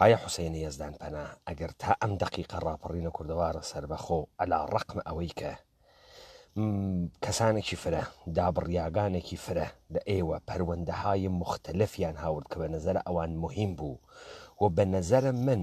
ئایا حوسەینی یەزدان پەنا ئەگەر تا ئەم دەقیقە ڕاپەڕینە کوردەوارە سەربەخۆ ئەلا ڕەقمە ئەوەی کە کەسانێکی فرە دابڕیاگانێکی فرە لە ئێوە پەروەندەهای مختلفیان هاورد کە بە نەزەرە ئەوان مهم بوو و بە نەزەرە من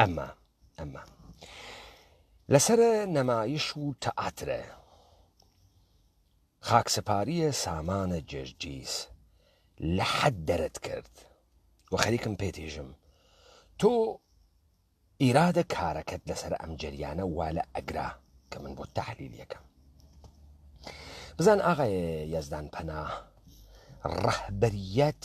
ئەمە ئەمە لەسەر نەمایش و تەعاترە خاکسەپاریە سامانە جێژجیز لە حەد دەرت کرد و خەریکم پێتیژم تۆ ئیرادە کارەکەت لەسەر ئەم جریانە وا لە ئەگرا کە من بۆ تحلیل یەکەم بزان ئاغای یەزدان پەنا ڕەهبەریەت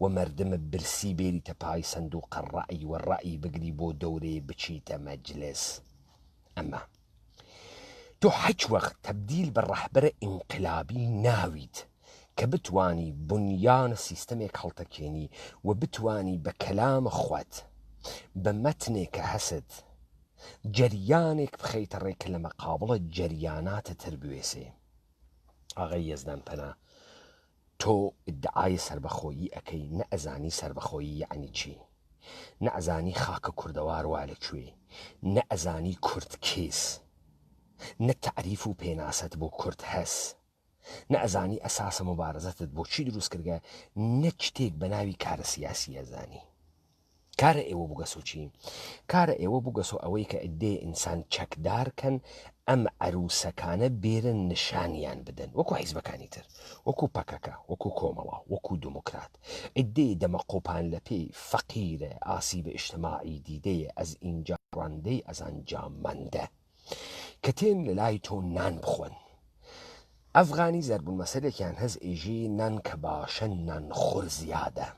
و مردم برسی بێریتە پای سندوقە ڕای و ڕای بگری بۆ دەورەێ بچیتە مەجلس ئەمە تۆ حچ وەخت تەبدیل بە ڕەحبەرە ئینقلابی ناویت کە بتوانی بنیانە سیستەمێک هەڵتەکێنی و بتوانی بە کەلام خوت بە مەتنێک کە هەست جەریانێک بخەیتە ڕێ کە لە مەقابڵە جەریاناتە تر بوێسێ ئاغای یەزدان پەنا تۆ ئیدعای سەربەخۆیی ئەکەی نە ئەزانی سەربەخۆیی یەعنی چی نە ئەزانی خاکە کوردەوار وا لە کوێی نە ئەزانی کورد کیس نە تەعریف و پێناسەت بۆ کورد هەس نە ئەزانی ئەساسە موبارزەتت بۆ چی دروست کردگە نە چتێک بە ناوی کارە سیاسی ئەزانی. کارە ئێوە بوگەسۆ چی؟ کارە ئێوە بوگەسۆ ئەوەی کە ئدێ ئینسان چەکدار کەن ئەم عروسەکانە بێرن نشانیان بدەن وەکو حیزبەکانی تر وەکو پەکەکە وەکو کۆمەڵە وەکو دموکرات ئدێ دەمە قۆپان لە پێی فەقیرە ئاسی بە ئشتماعی دیدەیە ئەز ئینجا ڕاندەی ئەزان جا مەندە کە تێن لە لای تۆ نان بخۆن ئەفغانی زەربون مەسەلێکیان هەز ئێژی نان کە باشە نان خۆر زیادە.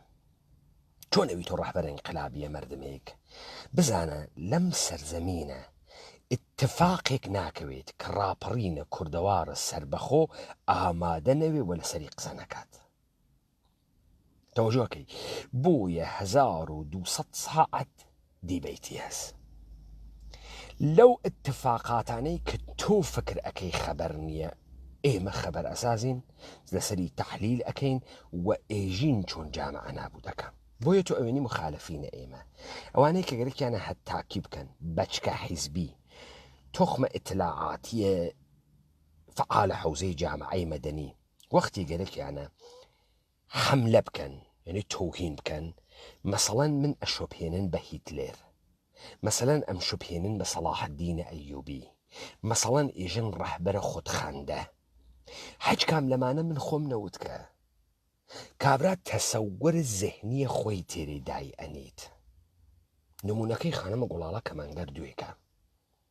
تۆ نەوی تۆ ڕەهبەر ئینقلابیە مەردمێک بزانە لەم سەرزەمینە اتفاقێک ناکەوێت کە ڕاپەڕینە کوردەوارە سربەخۆ ئامادە نەوێ وە لەسەری قسە نەکات تەوەژۆکەی بۆیە 1200 ساعت دیبەیتیەس لەو ئتفاقاتانەی کە تۆ فکر ئەکەی خەبەر نییە ئێمە خەبەر ئەسازین لەسەری تحلیل ئەکەین و ئێژین چۆن جامعە نابوو دەکەم بۆیە تۆ ئەوێنی مخالفینە ئێمە ئەوانەی کە گەرەکیانە هەت تاکی بکەن بەچکە حیزبی تخمە ئتلاعاتیە فعالە حوزەی جامعەی مەدەنی وەختی گەرەکیانە حەملە بکەن یانی تۆهین بکەن مەسەڵەن من ئەشوبهێنن بە هیتلێر مەسەلەن ئەمشوبهێنن بە سەڵاح الدینە ئەیوبی مەسەڵەن ئیژن ڕەهبەرە خود خەندە هەچ کام لەمانە من خۆم نەوت کە کابرا تەسەوور زهنیە خۆی تێرێ دای ئەنیت نمونەکەی خانمە گوڵاڵە کەمانگەر دوێکە.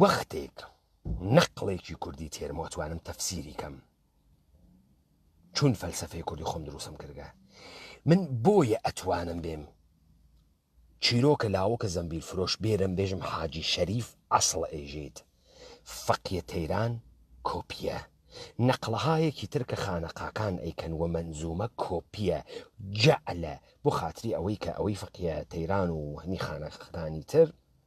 وەختێک نەقڵێکی کوردی تێرم وەتوانم تەفسیری کەم چون فەلسفەی کوردی خۆم دروستم کردگە من بۆیە ئەتوانم بێم چیرۆکە لاوەکە زەمبیل فرۆش بێرم بێژم حاجی شەریف ئەسڵ ئێژیت فەقیە تەیران کۆپیە نەقلەهایەکی ترکە خانەقاکان ئەیکەن وە منزومە کۆپیە جەعلە بۆ خاتری ئەوەی کە ئەوەی فەقیە تەیران و هەنی خانەقەکانی تر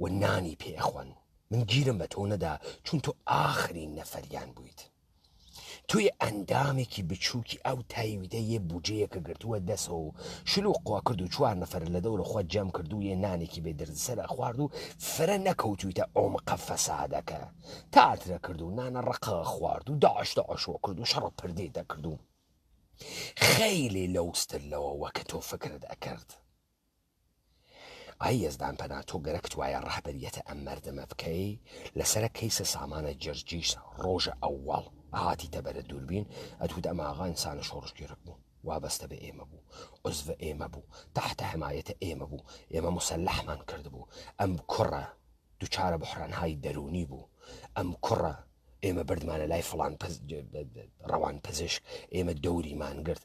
و نانی پێ ئەخۆن من گیرم بە تۆ نەدا چون تۆ ئاخرین نەفەریان بوویت توی ئەندامێکی بچووکی ئەو تایویدە یە بجەیەکە گرتووە دەسەوە و شلو قوا کرد و چوار نەفر لە دەورە خۆ جەم کردو یە نانێکی بێ دردسەر ئەخوارد و فرە نەکەوتویتە ئۆمقە فەسادەکە تاترە کرد و نانە ڕەقە ئەخوارد و داعش داعش وە کرد و شەڕە پردێ دەکرد و خەیلێ لەوستر لەوە وە کە تۆ فکرت ئەکرد. ئای یەزدان پەنا تۆ گەرەکت وایە ڕەهبەریەتە ئەم مەردمە بکەی لەسەرە کەیسە سامانە جرجیس ڕۆژە ئەوەڵ هاتیتە بەرە دووربین ئەتوت ئەم ئاغا ئینسانە شۆڕشگێڕک بوو وابەستە بە ئێمە بوو عزڤە ئێمە بوو تەحتە حەمایەتە ئێمە بوو ئێمە مسەلەحمان کردبوو ئەم کوڕە دوچارە بحرانهای دەروونی بوو ئەم کوڕە ئێمە بردمانە لای فڵان ڕەوان پزیشک ئێمە دەوریمان گرت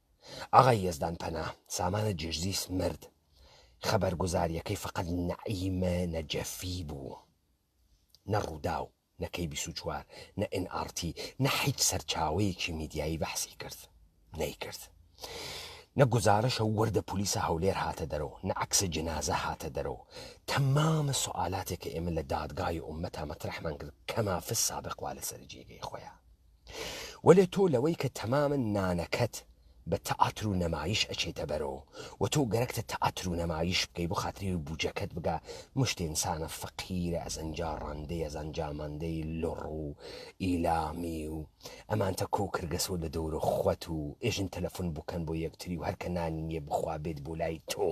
ئاغای یەزدان پەنا، سامانە جێژزیس مرد، خەبەرگوزارییەکەی فەقەت نەعیمە نەجەفی بوو، نە رووداو، نە کەی بیست و چوار، نە ئێن ئاڕ تی، نە هیچ سەرچاوەیەکی میدیایی بەحسی کرد، نەیکرد. نە گوزارشە و وردە پولیسە هەولێر هاتە دەرەوە، نە عەکسە جنازە هاتە دەرەوە. تەمامە سوئالاتێ کە ئێمە لە دادگای ئوممەتا مەترەحمان کرد کەما فی السابق وا لەسەرە جێگەی خۆیە. وەلێ تۆ لەوەی کە تەمامە نانەکەت بە تەئاتر و نەمایش ئەچێتە بەرەوە و تۆ گەرەکتە تەئاتر و نەمایش بکەی بۆ خاتری بوجەکەت بگا مشت ئینسانە فەقیرە ئەزان جا ڕەندەی ئەزان جا مەندەی لڕ و ئیلامی و ئەمانتە کۆ کرگەسۆ لە دەورە خوەت و ئێژن تەلەفون بکەن بۆ یەکتری و هەرکە نانی نیە بخوا بێت بۆ لای تۆ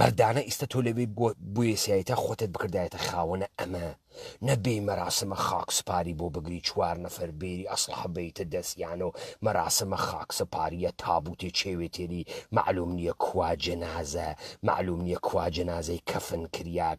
مەردانە ئیستە تۆ لەوێ بوێسایتە خۆتت بکردایەتە خاوەنە ئەمە نەبێ مەراسمە خاک سپاری بۆ بگری چوار نەفەر بێری ئەسلحە بیتە دەستیانە و مەراسمە خاک سپاریە تابوتێ چێوێتێری معلوم نییە کوا جەنازە معلوم نییە کوا جەنازەی کەفن کریاک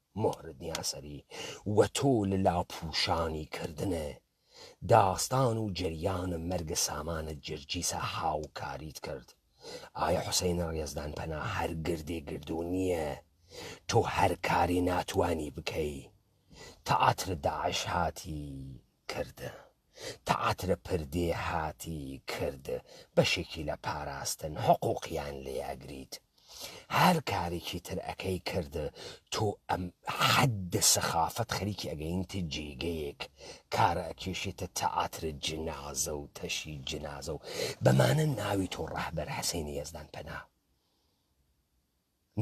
مۆرد نیاسری و تۆ لە لاپووشانی کردنە داستان و جەریان مەرگ سامانە جرجیسە هاوکاریت کرد ئایا حوسەینە ڕێزدان پەنا هەر گردێ گردوو نییە تۆ هەر کاری ناتوانی بکەی تەعاتر داعش هاتی کردە. تەعتر پردی هاتی کرد بەشێکی لە پاراستن حقوقیان لێ ئەگریت هەر کارێکی تر ئەکەی کرد تۆ ئەم حەد سەخافەت خەریکی ئەگەینت جێگەیەک کارە ئەکێشێتە تەعتر جنازە و تەشی جنازە و بەمانە ناوی تۆ ڕەهبەر حەسەینی یەزدان پەنا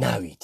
ناویت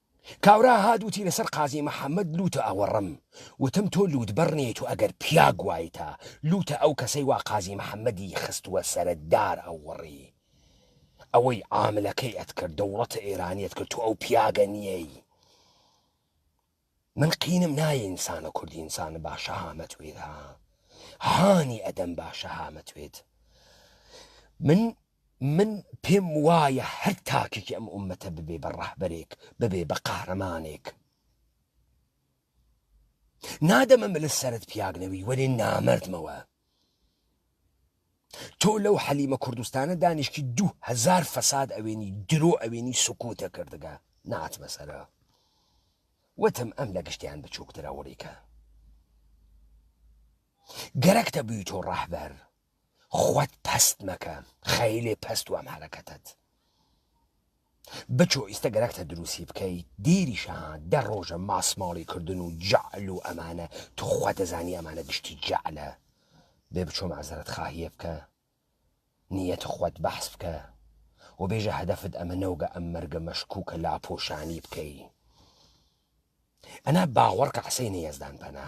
کاورا هات وتی لەسەر قازی محمد لوتە ئەوەڕم وتم تۆ لوتبەڕ نیت و ئەگەر پیاگ وایتە لوتە ئەو کەسەی وا قازی محمدی خستوە سەرە دار ئەوەڕی ئەوەی عاملەکەی ئەتکرد دەوڵەتە ئێرانیت کرد تۆ ئەو پیاگە نیەی من قینم نایە ئینسانە کوردی ئینسانە باشە هامەت وێرە هانی ئەدەم باشە هامەت وێت من من پێم وایە هەر تاکێکی ئەم ئوممەتە ببێ بە ڕەهبەرێک، ببێ بە قەهرەمانێک، نادەمە ملت سەرت پیاک نەوی وەلێ نامەردمەوە. تۆ لەو حەلیمە کوردستانە دانیشتی دوو هەزار فەساد ئەوێنی درۆ ئەوێنی سکوتە کردگە ناتمە سەرە. وتم ئەم لە گشتیان بچووکترە وڵیکە. گەرەکتە بوی تۆ ڕەهبەر خوت پەست مەکە خەیلێ پەست وام حەرەکەتەت بچۆ ئیستە گەرەکتە دروسی بکەیت دیریشەها دە ڕۆژە ماسماڵی کردن و جەعل و ئەمانە توخوا دەزانی ئەمانە گشتی جەعلە بێ بچۆ مەعزەرەت خاهیە بکە نیەت خوت بەحس بکە و بێژە هەدەفت ئەمە نەوگە ئەم مەرگە مەشکوکە لاپۆشانی بکەی ئەنا باوەڕکە حسەینی یەزدان پەنا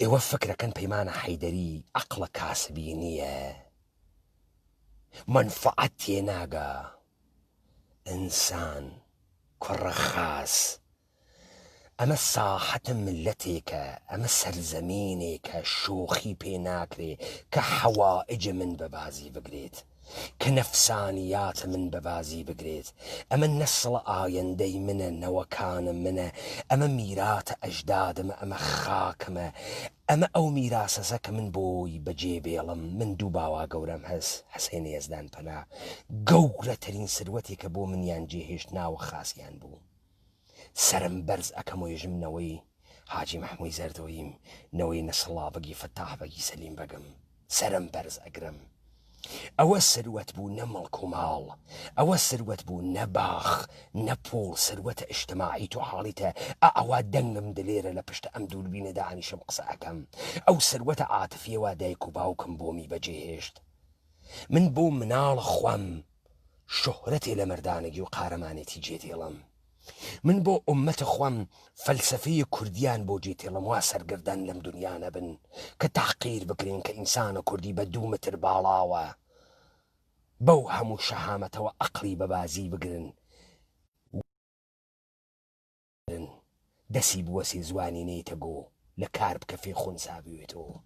ئێوە فکرەکەن پەیمانە حەیدەری عەقڵە کاسبی نییە مەنفەعەت تێناگا ئینسان کوڕە خاس ئەمە ساحەتە ملەتێکە ئەمە سەرزەمینێکە شۆخی پێ ناکرێ کە حەوائج من بە بازی بگرێت کە نەفسانیات من بە بازی بگرێت، ئەمە نەسڵە ئایەندەی منە، نەوەکانم منە، ئەمە میراتە ئەژدادمە، ئەمە خاکمە، ئەمە ئەو میراسەسە کە من بۆی بە جێ بێڵم، من دوو باوا گەورەم هەس، حسێن یەزدان پەنا، گەورەترین سروەتێکە بۆ منیان جێ هێشت ناوە خاسیان بوو. سەرم بەرز ئەکەم و یژم نەوەی حاجی مەحموی زەردۆییم، نەوەی نەسڕڵا بەگی فەتاح بەگی سەلیم بەگم، سەرم بەرز ئەگرم. ئەوە سروەت بوو نە مڵک و ماڵ، ئەوە سروەت بوو نە باخ، نە پووڵ، سروەتە ئیشتماعی تۆ حاڵیتە ئا ئەوا دەنگم دلێرە لە پشت ئەم دووربینە دانیشم قسە ئەکەم، ئەو سروەتە عاتفیە وا دایک و باوکم بۆمی بەجێ هێشت. من بۆ مناڵ خوەم. شوهرەتێ لە مەردانەگی و قارەمانێتی جێ دێڵم من بۆ ئوممەت خوام فەلسەفەیە کوردیان بۆ جێ تێڵم وا سەرگەردان لەم دنیا نەبن کە تەحقیر بکرێن کە ئینسانە کوردی بە دوو متر باڵاوە بەو هەموو شەهامەتەوە ئەقڵی بەبازی بگرن بن دەسی بوەسێ زوانی نەیتە گۆ لە کار بکە فێ خونسا بوێتەوە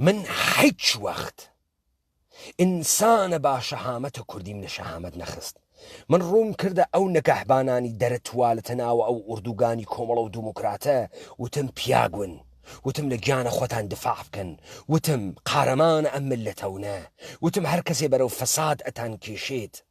من حیچ وەخت ئینسانە با شەهامەتە کوردیم لە شەهامەت نەخست من ڕووم کردە ئەو نەگەهبانانی دەرە توالتە ناوە ئەو ئوردوگانی کۆمەڵە و دیموکراتە وتم پیاگون وتم لە گیانە خۆتان دفاع بکەن وتم قارەمانە ئەم ملەتەونە وتم هەر کەسێ بەرەو فەساد ئەتان کێشێت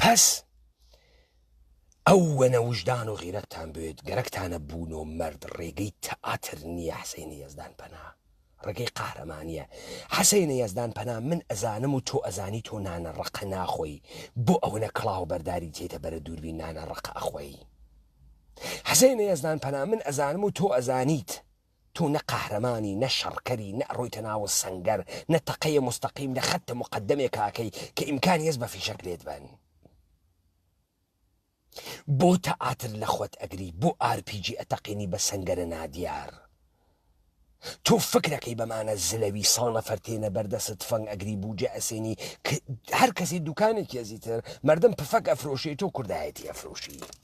پس ئەو وەنە وژدان و غیرەتتان بێت گەرەکتانە بوون و مرد ڕێگەی تەئاتر نییە حسینە یەزدان پەنا ڕێگەی قارەمانە حسینە یەزدان پەنا من ئەزانم و تۆ ئەزانی تۆ نانە ڕقە ناخۆی بۆ ئەوەنە کڵاو بەرداری تێتە بەرە دووربی نانە ڕقە ئەخۆی حسینە یەزدان پەنا من ئەزانم و تۆ ئەزانیت تۆ نە قەهرەمانی نە شەڕکەری نە ئەڕۆیتە ناو سەنگەر نە تەقەیە موستەقیم نە خەتتە موقەدەمێک ئاکەی کە ئیمکانی هەس بە فیشەک لێت بەن بۆ تەئاتر لە خۆت ئەگری بۆ ئارپیجی ئەتەقینی بە سەنگەرە نادیار تۆ فکرەکەی بەمانە زلەوی سەو نەفەر تێنە بەردەست تفەنگ ئەگری بوجە ئەسێنی هەر کەسی دوکانێکی ئەزیتر مردم پفەک ئەفرۆشێت و کوردایەتی ئەفرۆشی.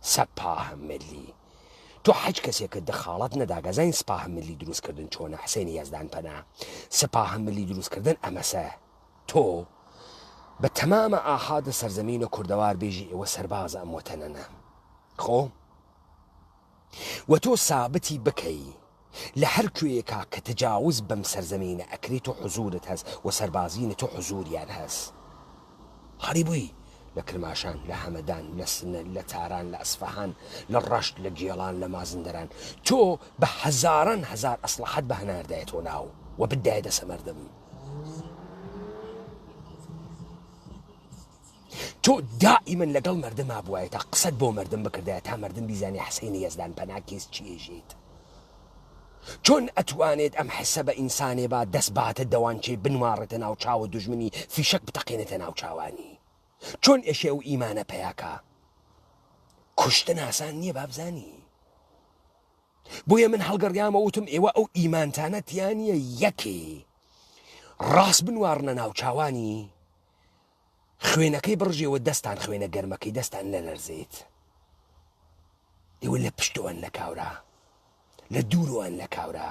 سپاه ملی تۆ حەج کەسێکت دخاڵەت نەداگەزاین سپاه ملی دروست کردن چۆنە حسین یەزدان پەنا سپاه ملی دروست کردن ئەمەسە تۆ بە تەمامە ئاحادە سەرزەمینە کوردەوار بێژی ئێوە سەربازە ئەم وەتەنەنە خۆ وە تۆ سابتی بکەی لە هەر کوێیەکا کە تجاوز بەم سەرزەمینە ئەکری تۆ حزورت هەس و سەربازینە تۆ حزوریان هەس هەڵی بوی لە کرماشان لە هەمەدان لە سنە لە تاران لە ئەسفەهان لە ڕەشت لە گێڵان لە مازندەران تۆ بە هەزاران هەزار ئەسڵەحەت بە هەناردایە تۆ ناو و بدایە دەسە مەردم. تۆ دائیمەن لەگەڵ مردم مابوایەتە قسەت بۆ مردم بکردایە تا مردم بیزانێ حسینی یەزدان پەنا کیس چیژیت چۆن ئەتوانێت ئەم حسە بە ئینسانێ با دەست باتە دەوانچێ بنواڕێتە ناو چاوە دوژمنی فیشەک بتەقێنێتە ناو چاوانی چۆن ئێشێ و ئیمانە پیاکە کوشتن ئاسان نییە بابزانی بۆیە من هەڵگەڕیامە وتم ئێوە ئەو ئیمانتانە تیانە یەکێ ڕاست بنواڕنە ناو چاوانی خوێنەکەی بڕژێوە دەستان خوێنە گەرمەکەی دەستان نەلەرزێت ئێوە لە پشتۆن لە کاورا لە دوورۆن لە کاورا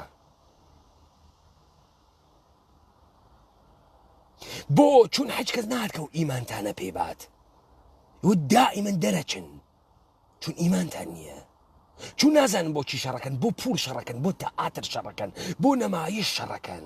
بۆ چون حەج کەس ناتکە و ئیمانتانە پێبات و دائیمەن دەرەچن چون ئیمانتان نییە چون نازانن بۆ چی شەڕەکەن بۆ پول شەڕەکەن بۆ تەعاتر شەڕەکەن بۆ نەمایی شەڕەکەن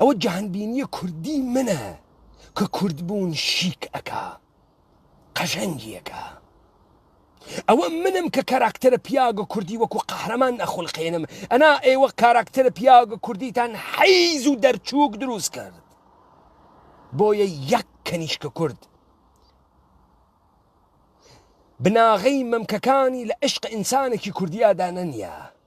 ئەوە جەهانبینیە کوردی منە کە کوردبوون شیک ئەکا قەژەنگ یەکا ئەوە منم کە کاراکتەرە پیاگە کوردی وەکو قەهرەمان ئەخولقێنم ئەنا ئێوە کاراکتەرە پیاگە کوردیتان حیز و دەرچووک دروست کرد بۆیە یەک کەنیشکە کورد بناغەی مەمکەکانی لە عشق ئینسانێکی کوردیادا نەنیە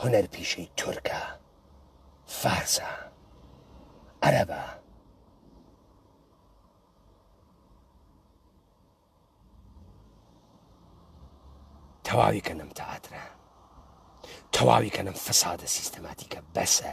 هونەر پیشەی تورکە فارسە عەرەبە. تەواوی کەنەم تەاترە تەواوی کەنەم فەسادە سیستەماتیکە بەسە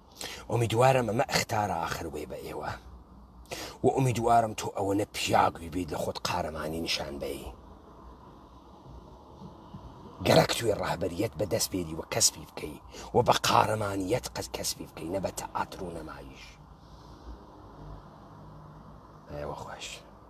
ئومیدوارم ئەمە ئەختارە ئاخر بێ بە ئێوە و ئومیدوارم تۆ ئەوەنە پیاگوی بیت لە خۆت قارەمانی نیشان بەی گەرەک توێ ڕاهبەریەت بە دەست بێری وە کەسبی بکەی و بە قارەمانیەت قەت کەسبی بکەی نەبەتە ئاتر و نەمایش ئەوە خۆش.